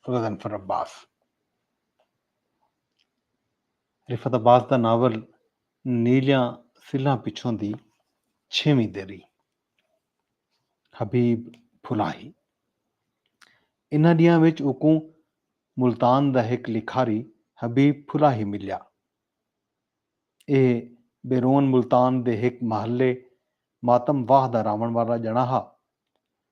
غضنفر عباس رفعت عباس دا ناول نیلیاں سلھاں پچھوں دی چھیویں دیری حبیب پھلاہی انہاں ڈیاں وچ اوکوں ملتان دا ہک لکھاری حبیب پھلاہی ملیا اے بیرون ملتان دے ہک محلے ماتم واہ دا راون والا جنا ہا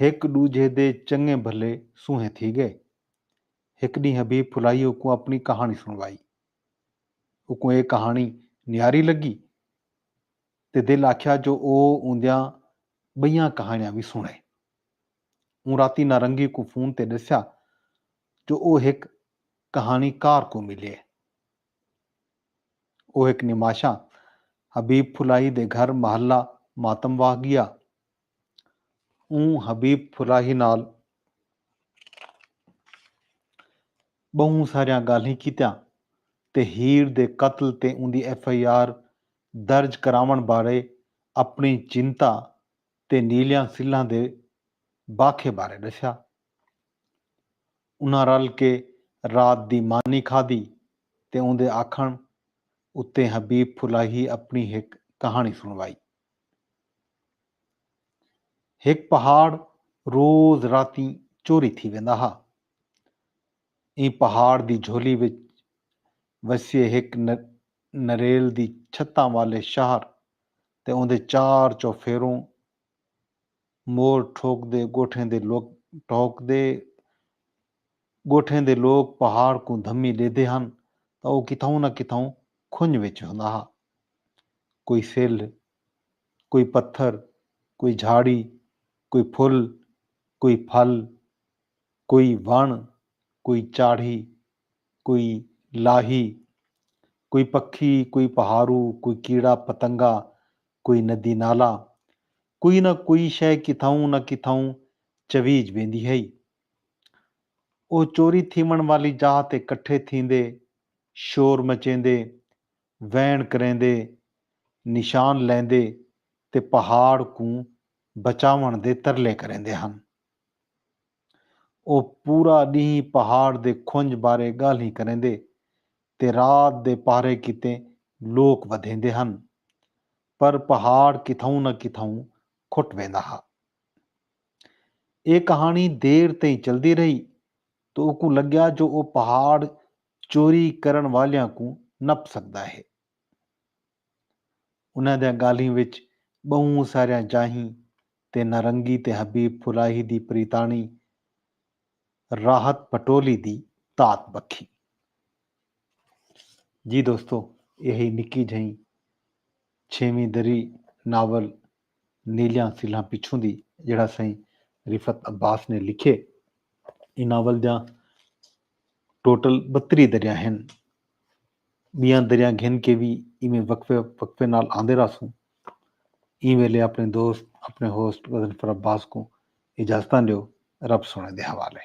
ہک ڈوجھے دے چنگے بھلے سونہے تھی گئے۔ ہک ڈینہہ حبیب پھلائی اوکوں اپنی کہاݨی سنوائی۔ اوکوں اے کہاݨی نیاری لگی تے دل آکھیا جو او اوندیاں بئیاں کہاݨیاں وی سنڑے۔ اوں راتی نارنگی کوں فون تے ڈسیا جو او ہک کہاݨی کار کوں ملیے۔ او ہک نماشاں حبیب پھلائی دے گھر محلہ ماتم واہ گیا۔ اوں حبیب فلاحی نال بہوں ساریاں گالھیں کیتیاں تے ہیر دے قتل تے اوندی ایف آئی آر درج کراوݨ بارے اپݨی چنتا تے نیلیاں سلھاں دے باکھے بارے ݙسیا۔ انہاں رل کے رات دی مانی کھادی تے اوندے آکھݨ اتے حبیب فلاحی اپݨی ہک کہاݨی سݨوائی۔ ہک پہاڑ روز راتیں چوری تھی ویندا ہا۔ ایں پہاڑ دی جھولی وچ وسیے ہک نریل دی چھتاں والے شہر تے اوندے چار چوفیروں مور ٹھوکدے ڳوٹھیں دے لوک ٹہکدے ڳوٹھیں دے لوک پہاڑ کوں دھمی ݙیدھے ہن تاں او کتھاؤں نہ کتھاؤں کھنڄ وچ ہوندا ہا۔ کوئی سلھ، کوئی پتھر، کوئی جھاڑی، کوئی پھل، کوئی پھل، کوئی وݨ، کوئی چاڑھی، کوئی لاہی، کوئی پکھی، کوئی پہاڑو، کوئی کیڑا پتنگا، کوئی ندی نالا، کوئی نہ کوئی شئے کتھاؤں نہ کتھاؤں چویج ویندی ہئی۔ او چوری تھیوݨ والی جاہ تے کٹھے تھیندے، شور مچیندے، ویݨ کریندے، نشان لیندے تے پہاڑ کوں بچاوݨ دے ترلے کریندے ہن۔ او پورا ݙینھ پہاڑ دے کھنڄ بارے ڳالھیں کریندے تے رات دے پہرے کیتے لوک ودھیندے ہن، پر پہاڑ کتھائوں نہ کتھائوں کھٹ ویندا ہا۔ ایہ کہاݨی دیر تئیں چلدی رہی تاں اوکوں لڳیا جو او پہاڑ چوری کرݨ والیاں کوں نپ سڳدا ہے۔ انہاں دیاں ڳالھیں وچ ٻہوں ساریاں جاہیں تے نارنگی تے حبیب پھلاہی دی پریتاݨی راحت پٹولی دی تات بکھی۔ جی دوستو ایہ ہئی نکی جھئیں چھیویں دری ناول نیلیاں سلھاں پچھوں دی جیڑھا سئیں رفعت عباس نے لکھیے۔ ایں ناول دیاں ٹوٹل بتری دریاں ہن۔ ٻیاں دریاں گھن کے وی ایویں وقفے وقفے نال آندے رہسوں۔ ایں ویلے اپݨے دوست اپݨے ہوسٹ غضنفر عباس کوں اجازتاں ݙیو رب سوہݨے دے حوالے۔